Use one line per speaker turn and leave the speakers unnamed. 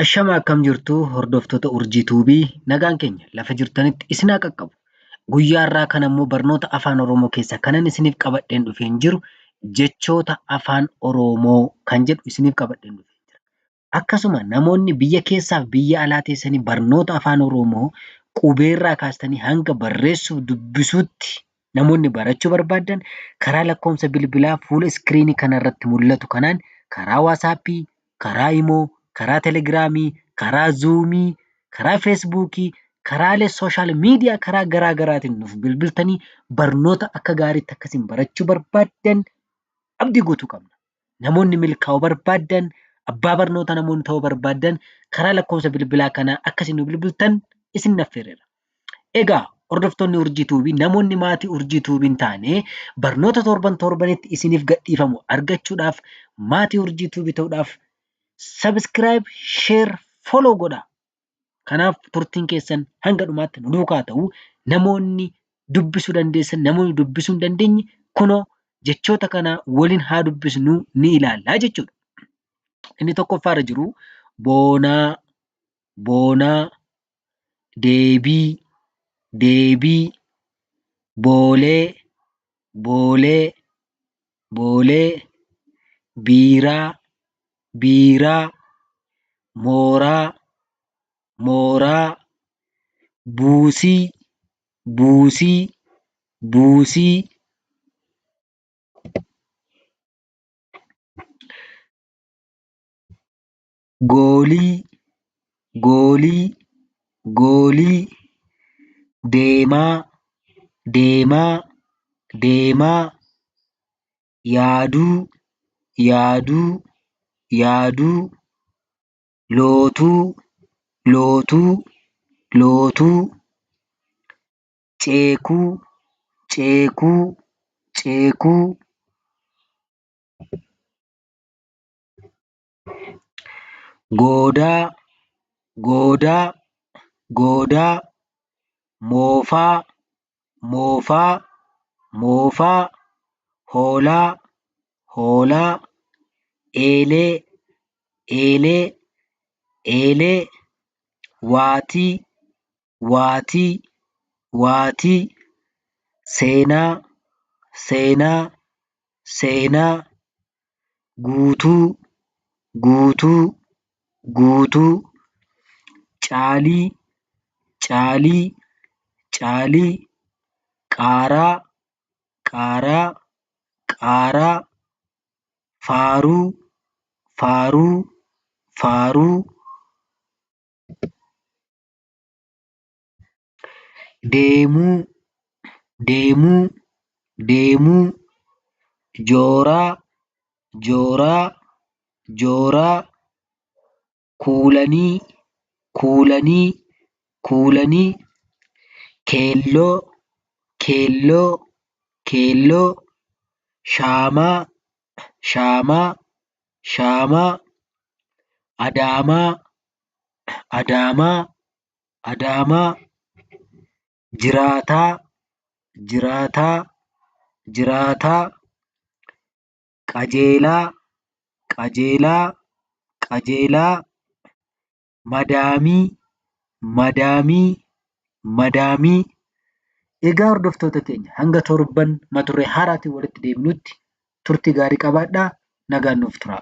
Ashama akkam jirtu hordoftoota Urjii Tuubii nagaan keenya lafa jirtanitti isin haa qaqqabu. Guyyaa irraa kan ammoo barnoota afaan Oromoo keessaa kanan isiniif qabadheen dhufeen jiru jechoota afaan Oromoo kan jedhu isiniif qabadheen dhufeen jira. Akkasuma namoonni biyya keessaaf biyya alaa teessanii barnoota afaan Oromoo qubeerraa kaastanii hanga barreessuuf dubbisuutti Namoonni barachuu barbaaddan karaa lakkoofsa bilbilaa fuula iskiriinii kana irratti mul'atu kanaan karaa waasaappii, karaa imoo, karaa telegiraamii, karaa zuumii, karaa feesbuukii, karaalee sooshaal miidiyaa karaa garaa garaatiin nuuf bilbiltanii barnoota akka gaariitti akka isin barachuu barbaaddan abdii guutuu qabna. Namoonni milkaa'uu barbaaddan, abbaa barnoota namoonni ta'uu barbaaddan karaa lakkoofsa bilbilaa kanaa akka isin nu bilbiltan isin affeerreera. Egaa hordoftoonni urjii tuubii namoonni maatii urjii tuubiin taane barnoota torban torbanitti isiniif gadhiifamu argachuudhaaf maatii urjii tuubii ta'uudhaaf sabiskiraayib, sheer, foloo godhaa. Kanaaf turtiin keessan hanga dhumaatti nu duukaa ta'u namoonni dubbisuu dandeessan namoonni dubbisuu hin dandeenye kunoo jechoota kana waliin haa dubbisnu ni ilaallaa jechuudha. Inni tokkoffaa irra jiru boonaa, boonaa, deebii, deebii, boolee, boolee boolee biiraa biiraa mooraa mooraa buusii buusii buusii goolii goolii goolii deemaa deemaa deemaa yaaduu yaaduu yaaduu lootuu lootuu lootuu ceekuu ceekuu ceekuu goodaa goodaa goodaa moofaa moofaa moofaa hoolaa hoolaa eelee eelee eelee waatii waatii waatii seenaa seenaa seenaa guutuu guutuu guutuu caalii caalii caalii qaaraa qaaraa qaaraa faaruu faaruu faaruu. deemuu deemuu deemuu jooraa jooraa jooraa kuulanii kuulanii kuulanii keelloo keelloo keelloo shaamaa shaamaa shaamaa adaamaa Adaamaa Adaamaa Jiraataa Jiraataa Jiraataa Qajeelaa Qajeelaa Qajeelaa Madaamii Madaamii Madaamii Egaa hordoftoota keenya hanga torban mata duree haaraatiin walitti deebinutti turtii gaarii qabaadhaa nagaan nuuf turaa.